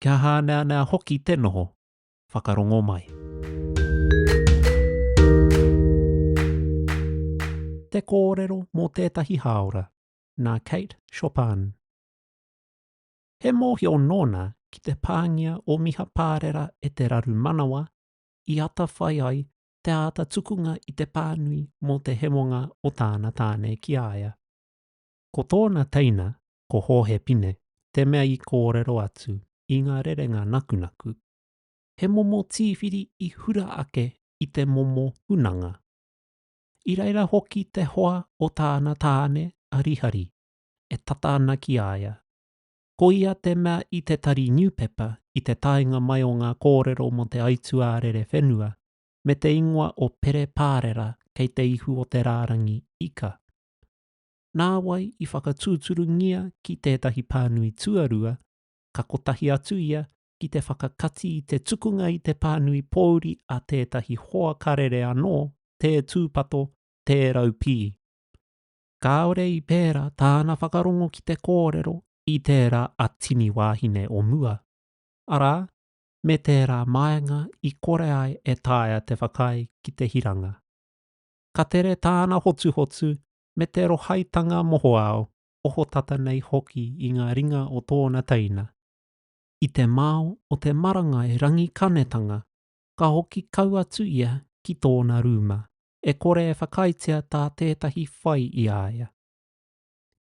kia hāneanea hoki te noho whakarongo mai. Te kōrero mō tētahi hāora, nā Kate Chopin. He mōhio nōna ki te pāngia o Miha Pārera e te raru manawa i atawhai ai te āta tukunga i te pānui mō te hemonga o tāna tāne ki a ia. Ko tōna teina ko Hōhe Pine te mea i kōrero atu i ngā rerenga nakunaku, he momo tīwhiri i hura ake i te momo hunanga. I reira hoki te hoa o tāna tāne a Rihari e tata ana ki a ia. Ko ia te mea i te tari niupepa i te taenga mai o ngā kōrero mō te aituā rerewhenua me te ingoa o Pere Pārera kei te ihu o te rārangi ika. nāwai i whakatūturungia ki tētahi pānui tuarua, ka kotahi atu ia ki te whakakati i te tukunga i te pānui pōuri a tētahi hoa karere anō, tē tūpato, tē raupī. Kāore i pērā tāna whakarongo ki te kōrero i tērā a Tini Wāhine o mua, arā, me tērā māenga i kore ai e taea te whakaae ki te hiranga. Ka tere tāna hotuhotu me te rohaitanga mohoao, ohotata nei hoki i ngā ringa o tōna teina. I te mao o te marangai Rangikanetanga, ka hoki kau atu ia ki tōna rūma, e kore e whakaaetia tā tētahi whai i a ia.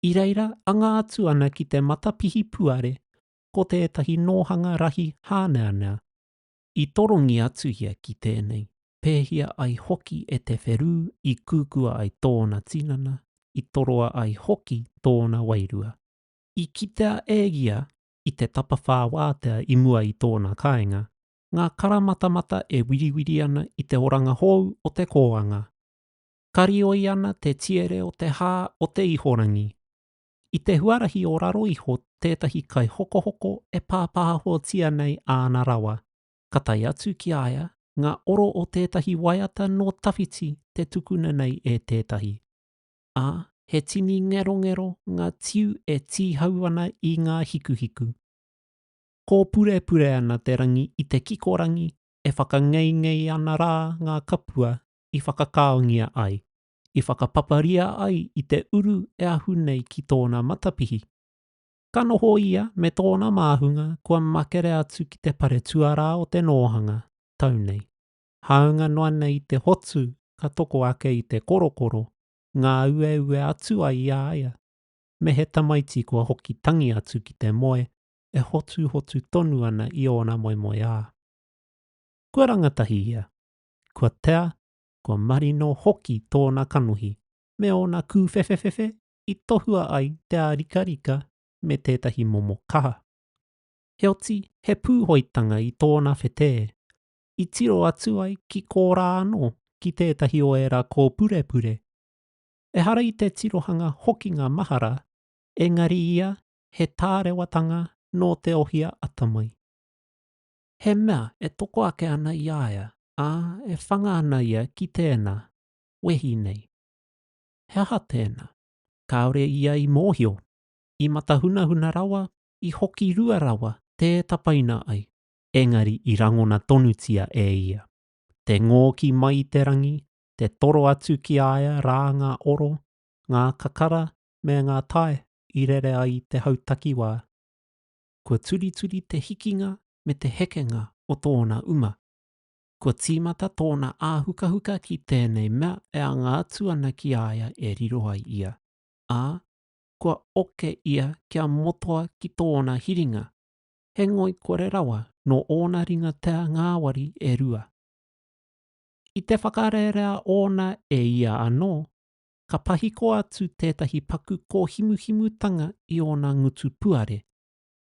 I reira anga atu ana ki te matapihi puare ko tētahi nōhanga rahi hāneanea, I torongi atu ia ki tēnei, pēhia ai hoki e Te Wherū i kūkua ai tōna tinana, i toroa ai hoki tōna wairua. I kitea e ia, i te tapawhā wātea i mua i tōna kāinga, ngā karamatamata e wiriwiri ana i te oranga hou o te kōanga. Karioi ana te tiere o te hā o te ihorangi, I te huarahi o raro iho tētahi kaihokohoko e pāpāhotia nei āna rawa, ka tae atu ki a ia ngā oro o tētahi waiata nō tawhiti te tukuna nei e tētahi, ā, he tini ngerongero ngā tiu e tīhau ana i ngā hikuhiku. Kōpurepure ana te rangi i te kikorangi e whakangeingei ana rā ngā kapua i whakakaongia ai. i whakapaparia ai i te uru e ahu nei ki tōna matapihi. Ka noho ia me tōna māhunga kua makere atu ki te pare tuarā o te nōhanga, tau nei. Hāunga noa nei te hotu ka toko ake i te korokoro, ngā ueue atu ai i a ia. Me he tamaiti kua hoki tangi atu ki te moe e hotuhotu tonu ana i ōna moemoeā. Kua rangatahi ia, kua tea kua marino hoki tōna kanohi me ōna kūwhewhewhe i tohua ai te ārikarika me tētahi momo kaha. Heoti, he pūhoitanga i tōna whetē, i tiro atu ai ki kōrā anō ki tētahi o ērā kōpurepure. Ehara i te tirohanga hokinga mahara, engari ia he tārewatanga nō te ohia atamai. He mea e toko ake ana i a ia, ā, e whanga ana ia ki tēnā, wehi nei. He aha tēnā? Kāore ia i mōhio. I matahunahuna rawa, i hoki rua rawa, tē tapaina ai. Engari i rangona tonutia e ia. Te ngōki mai i te rangi, te toro atu ki a ia rā ngā oro, ngā kakara me ngā tae i rere ai i te hau takiwā. kua turituri te hikinga me te hekenga o tōna uma. Kua tīmata tōna āhukahuka ki tēnei mea e anga atu ana ki a ia e riro ai ia, ā, kua oke ia kia motoa ki tōna hiringa, he ngoikore rawa nō ōna ringatea ngāwari e rua. I te whakarerea ōna e ia anō, ka pahiko atu tētahi paku kōhimuhimutanga i ōna ngutu puare,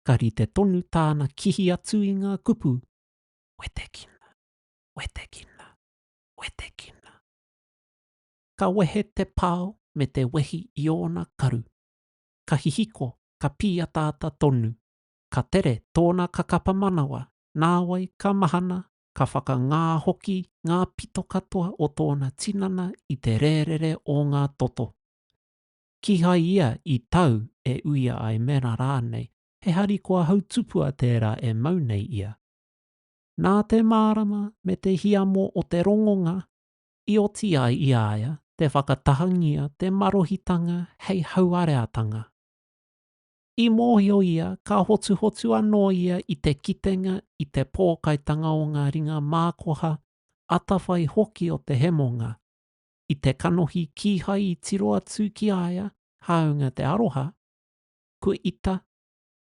ka rite tonu tāna kihi atu i ngā kupu, Wetekina, wetekina, wetekina. Ka wehe te pao me te wehi i ōna karu. Ka hihiko, ka pīataata tonu. Ka tere tōna kakapa manawa, nāwai ka mahana ka whakangā hoki ngā pito katoa o tōna tinana i te rērere o ngā toto. Kīhai ia i tau e uia ai mēnā rānei he harikoa hautupua tērā e mau nei ia. Nā te mārama me te hiamo o te rongonga i oti ai i a ia te whakatahangia te marohitanga hei hauareatanga. I mōhio ia ka hotuhotu anō ia i te kitenga i te pōkaitanga o ngā ringa mākoha, atawhai hoki o te hemonga. I te kanohi kīhai i tiro atu ki a ia, hāunga te aroha, Kua ita,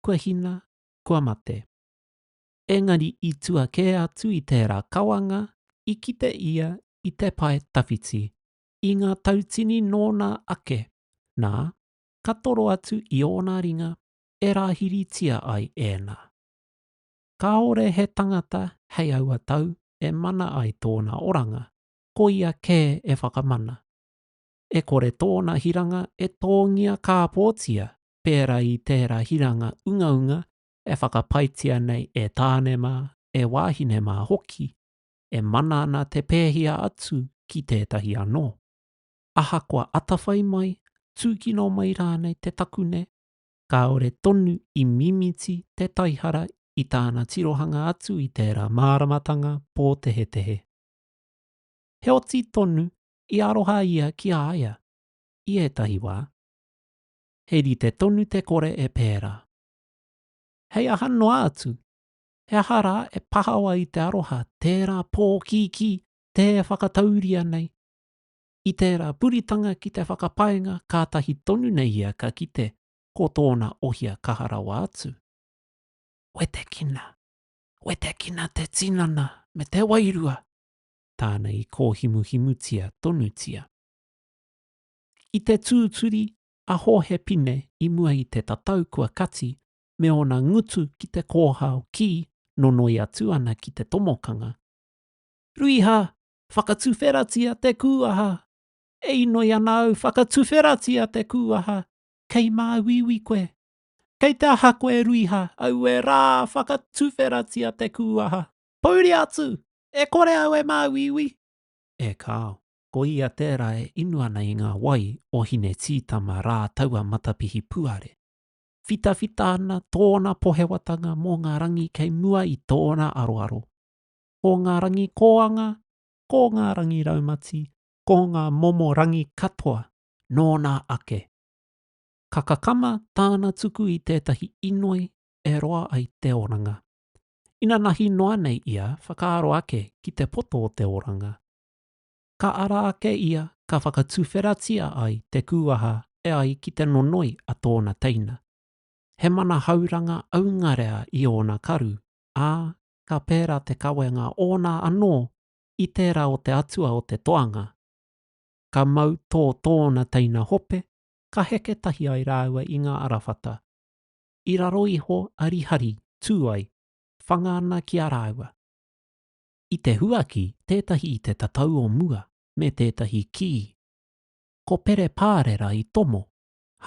kua hina, kua mate. Engari i tua kē atu i tērā kawanga, i kite ia i te pae tawhiti, i ngā tautini nōna ake, nā, ka toro atu i ōna ringa e rāhiritia ai ēnā. Kāore he tangata hei aua tau e mana ai tōna oranga, koia kē e whakamana. E kore tōna hiranga e tōngia kāpōtia pērā i tērā hiranga ungaunga e whakapaetia nei e tāne mā, e wāhine mā hoki, e mana ana te pēhia atu ki tētahi anō. ahakoa atawhai mai, tūkino mai rānei te takune, kāore tonu i mimiti te taihara i tāna tirohanga atu i tērā māramatanga pōtehetehe. Heoti tonu i aroha ia ki a ia, i ētahi wā. He rite tonu te kore e pērā. Hei aha noa atu, he aha rā e pahawa i te aroha tērā pōkīkī tē whakatauria nei, I tērā puritanga ki te whakapaenga kātahi tonu nei ia ka kite ko tōna ohia kaha rawa atu. Wetekina, wetekina te tinana me te wairua! tāna i kōhimuhimutia tonutia. I te tūturi a Hōhe Pine i mua i te tatau kua kati me ōna ngutu ki te kōhao kī nonoi atu ana ki te tomokanga, Ruiha! Whakatuwheratia te kūaha E inoi ana au Whakatuwheratia te kūaha Kei māuiui koe Kei te aha koe Ruiha Aue rā Whakatuwheratia te kūaha Pouri atu E kore au e māuiui E kāo Ko ia tērā e inu ana i ngā wai o Hinetītama rā taua matapihi puare. Whitawhita ana tōna pohewatanga mō ngā rangi kei mua i tōna aroaro. ko ngā rangi kōanga, ko ngā rangi raumati, ko ngā momo rangi katoa, nōna ake. Ka kakama tāna tuku i tētahi inoi e roa ai te oranga. Inanahi noa nei ia whakaaro ake ki te poto o te oranga. Ka ara ake ia ka whakatuwheratia ai te kūaha e ai ki te nonoi a tōna teina. He manahauranga aungarea i ōna karu, ā, ka pērā te kawenga ōna anō i tērā o te atua o te toanga. Ka mau tō tōna teina hope, ka heke tahi ai rāua i ngā arawhata. I raro iho a Rihari, tū ai, whanga ana ki a rāua. I te huaki, tētahi i te tatau o mua, me tētahi kī. Ko Pere Pārera i tomo,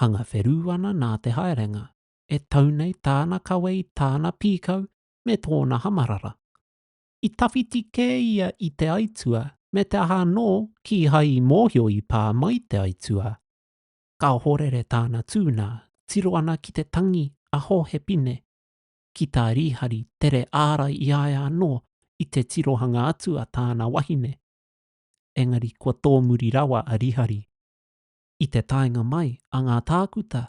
hanga wherū ana nā te haerenga, e tau nei tāna kawe i tāna pīkau me tōna hamarara. I tawhiti kē ia i te aitua me te aha anō kīhai i mōhio i pā mai te aitua. Ka ohorere tāna tū nā, tiro ana ki te tangi a Hohepine, ki tā Rīhari tere ārai i a ia anō i te tirohanga atu a tāna wahine. Engari kua tōmuri rawa a Rīhari. I te taenga mai a ngā tākuta,